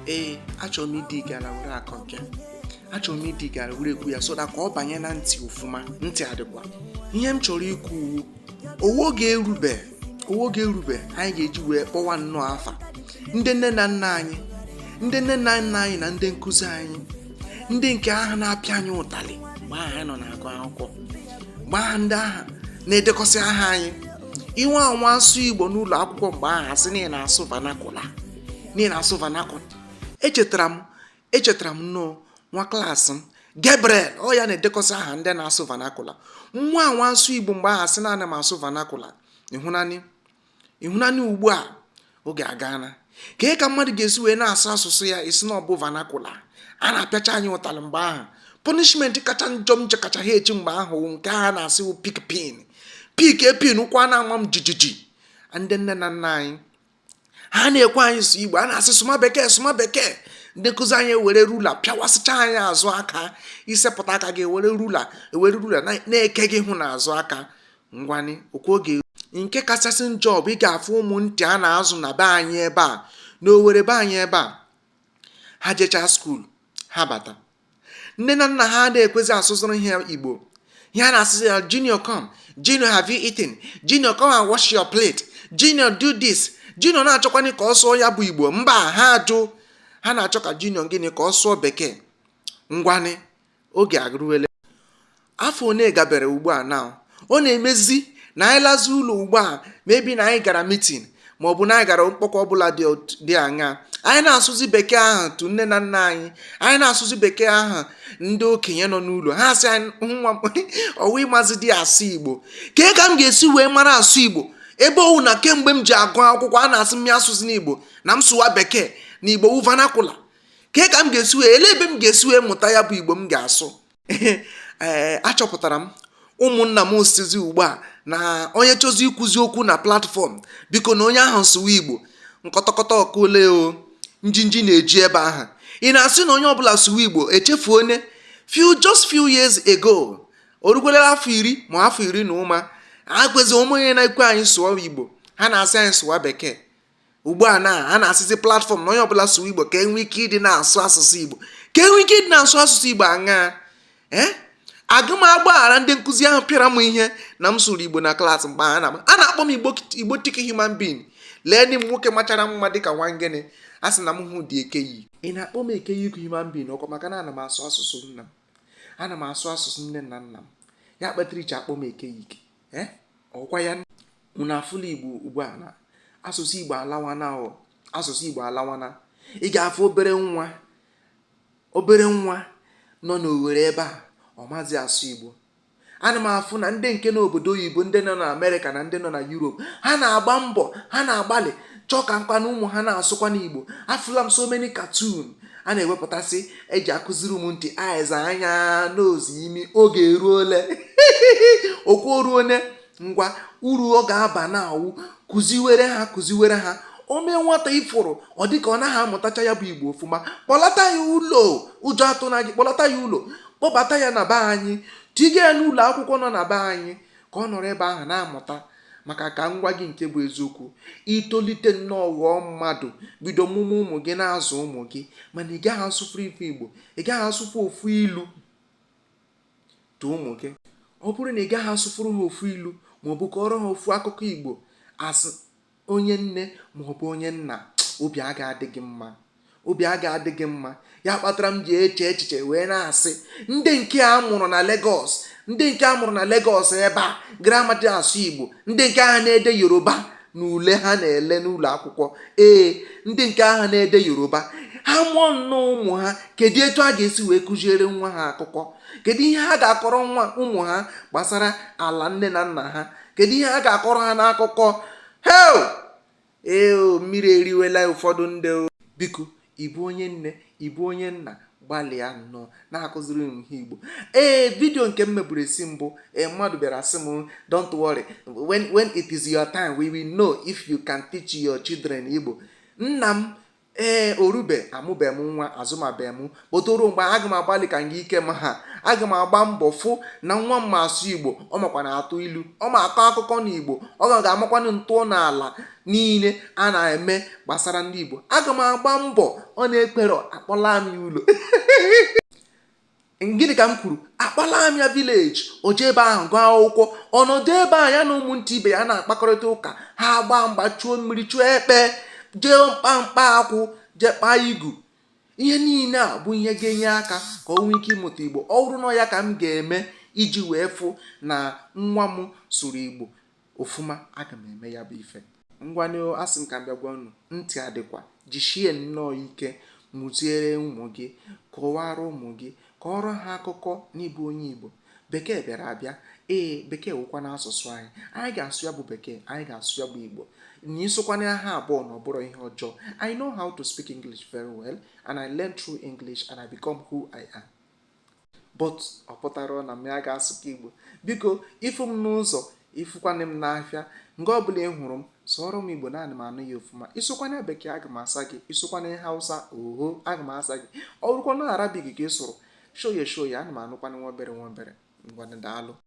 ee achọrọ m ịdị gara were akọ nke achọrọ m ịdị gara were ekwu ya so that ka ọ banye na ntị ọfụma ntị adịkwa ihe m chọrọ ikwu ọ wụ oge erube ọ wụ oge erube anyị ga-eji wee kpọwa nnọọ afa ndị nne na nna anyị ndị nne na nna anyị na ndị nkụzi anyị ndị nke ahụ na-apịa anyị ụtalị mgbe ahụ anyị nọ na-agụ akwụkwọ mgbe ahụ ndị ahụ na-edekọsị aha anyị ị nwaa anwa sụọ igbo n'ụlọ akwụkwọ mgbe ahụ a sị na ị na-asụ vernacular na ị na-asụ vernacular echetara m echetara m nnọọ nwa klaasị m gabriel ọ ya na-edekọsị aha ndị na-asụ vernacular nwaa anwa sụọ igbo mgbe ahụ a sị na ana m asụ vernacular ị hụnanị ị hụnanị ugbu a oge agaana kee ka mmadụ ga-esi wee na-asụ asụsụ ya ị sị na ọ bụ vernacular a na-apịacha anyị ụtalị mgbe ahụ punishment kacha njọ m nche kacha ha echi mgbe ahụ nke ha na-asị wụ pick pin pick a pin ụkwụ a na-ama m jijiji ndị nne na nna anyị ha na-ekwe anyị sụọ igbo a na-asị sụma bekee sụma bekee ndị nkụzi anyị ewere ruler pịawasịcha anyị azụ aka ị sepụta aka gị ewere ruler ewere ruler na-eke gị hụ n'azụ aka ngwanị okwu oge nke kachasị njọ bụ ị ga-afụ ụmụ ntị a na-azụ na be anyị ebe a n'owerri be anyị ebe a ha jechaa skuulu ha bata nne na nna ha na-ekwezi asụzịrị ha igbo ihe a na-asịzi ya junior come junior have you eaten junior come and wash your plate junior do this junior na-achọkwanụ ka ọ sụọ ya bụ igbo mba ha ajụ ha na-achọ ka junior gịnị ka ọ sụọ bekee ngwanị oge agụrụwele afọ one gabere ugbu a na ọ na-emezi na anyị lazi ụlọ ugbu a maybe na anyị gara meeting ma ọ bụ na anyị gara mkpọkọ ọbụla dị aṅaa anyị na-asụzi bekee ahụ tụ nne na nna anyị anyị na-asụzi bekee ahụ ndị okenye nọ n'ụlọ ha asị anyị nwa ọ wụ ị mazịdị asụ igbo kee ka m ga-esi wee mara asụ igbo ebe ọ wụ na kemgbe m ji agụ akwụkwọ a na-asị m ya asụzina igbo na m sụwa bekee na igbo wụ vernacular kee ka m ga-esi wee elee ebe m ga-esi wee mụta ya bụ igbo m ga-asụ ee achọpụtara m ụmụnna m sịzi ugbu a na onye chọzie ikwuzi okwu na platform biko na onye ahụ sụwa igbo nkọtọkọta ọkụ ole o njinji na-eji ebe ahụ ị na-asị na onye ọbụla sụwa igbo echefuo na few just few years ago o rukwelere afọ iri ma afọ iri na ụma agwezi ụmụ onye na-ekwe anyị sụọ igbo ha na-asị anyị sụwa bekee ugbu a na a na-asịzi platform na onye ọbụla sụwa igbo ka e nwee ike ịdị na-asụ asụsụ igbo ka e nwee ike ịdị na-asụ asụsụ igbo aṅaa ee eh? agaghị m agbaghara ndị nkụzi ahụ pịara m ihe na m sụrụ igbo na klaasị mgbe a na-akpọ m igbotic human being leenụ m nwoke machara mma dịka nwa gịnị a sị na m wụdị eke yi ị na-akpọ m eke yi human being ọkwa maka na ana m asụ asụsụ nna m ana m asụ asụsụ nne na nna m ya kpatara i ji akpọ m eke yi eh, ọkwa ya unu afụla igbo ugbu a na asụsụ igbo alawana o asụsụ igbo alawana ị ga-afụ obere nwa obere nwa nọ n'owere ebe a ọ mazi asụ igbo ana m afụ na ndị nke n'obodo oyibo ndị nọ na amerịka na ndị nọ na yurop ha na-agba mbọ ha na-agbalị chọọ ka nkwa na ụmụ ha na-asụkwa n'igbo afụla m so many cartoon a na-ewepụtasị e ji akụziri ụmụntị eyes anya nose imi oge eruole okwu oruone ngwa uru ọ ga-aba na-awụ kụziwere ha kụziwere ha o mee nwata ị fụrụ ọ dị ka ọ naghị amụtacha ya bụ igbo ọfụma kpọlata ya ụlọ ụjọ atụna gị kpọlata ya ụlọ kpọbata ya na be anyị tiga ya n'ụlọ akwụkwọ nọ na be anyị ka ọ nọrọ ebe ahụ na-amụta maka ka m gwa gị nke bụ eziokwu i tolite nnọọ ghọọ mmadụ bido mụma ụmụ gị na-azụ ụmụ gị mana ị gaghị asụfụ ife igbo ị gaghị asụfụ ofu ilu to ụmụ gị ọ bụrụ na ị gaghị asụfụrụ ha ofu ilu ma ọ bụ kọọrọ ha ofu akụkọ igbo as onye nne ma ọ bụ onye nna obi a ga-adị gị mma obi a ga-adị gị mma ya kpatara m ji eche echiche wee na-asị ndị nke a mụrụ ndị nke a mụrụ na Legọs ebe a gramadị asụ Igbo ndị nke ahụ na-ede Yoruba na ule ha na-ele n'ụlọ akwụkwọ ee ndị nke ahụ na-ede Yoruba ha mụọ nnọọ ụmụ ha kedu etu ha ga-esi wee kụziere nwa ha akụkọ kedu ihe ha ga-akọrọ nwa ụmụ ha gbasara ala nne na nna ha kedu ihe ha ga-akọrọ ha n'akụkọ he ee o mmiri eriwela ụfọdụ ndị o biko ị bụ onye nne ị bụ onye nna gbalịa nnọọ na-akụziri ụmụ gị ihe Igbo ee vidio nke m meburu isi mbụ ee mmadụ bịara sị m don't worry when when it is your time we will know if you can teach your children Igbo nna m ee o rube amụbe m nwa azụmabe m but o ruo mgbe aga m agbalị ka nga ike m ha aga m agba mbọ fụ na nwa m ma asụ igbo ọ makwanụ atụ ilu ọ ma akọ akụkọ na igbo ọ ga ga-amakwanụ ntọnaala niile a na-eme gbasara ndị igbo aga m agba mbọ ọ na-ekwero akpọla m ya ụlọ Gịnị ka m kwuru? Akpọla m ya village, o jee ebe ahụ gụọ akwụkwọ. Ọ nọdụ ebe ahụ ya na ụmụntị ibe ya na-akpakọrịta ụka, ha agbaa mgba, chuo mmiri, chụọ ekpe, jee mkpa mkpa akwụ, jee kpaa igu. Ihe niile a bụ ihe ga-enye aka ka o nwee ike ịmụta Igbo. Ọ bụrụ na ọ ya ka m ga-eme iji wee fụ na nwa m sụrụ Igbo, ofuma, aga m eme ya bụ ife. Ngwanụ o, asị m ka m bịa gwa unu, ntị adịkwa. Jisie nnọọ ike mụziere ụmụ gị, kọwaara ụmụ gị, kọọrọ ha akụkọ n'ịbụ onye Igbo. Bekee bịara abịa, ee, Bekee wụkwanụ asụsụ anyị. Anyị ga-asụ ya bụ Bekee, anyị ga-asụ ya bụ Igbo. Na ịsụkwanụ ya ha abụọ na ọ bụrọ ihe ọjọọ. I know how to speak English very well and I learn through English and I become who I am. but ọ pụtara na m ya ga-asụkwa Igbo biko ị fụ m n'ụzọ ị fụkwanị m n'afịa nga ọbụla ị hụrụ m sụọrọ m Igbo na ana m anụ ya ọfụma ị sụkwanị bekee aga m asa gị ị sụkwanị Hausa oho aga m asa gị ọ bụrụkwa na Arabic ka ị sụrụ shoye shoye ana m anụkwanị nwa obere nwa obere ngwanụ daalụ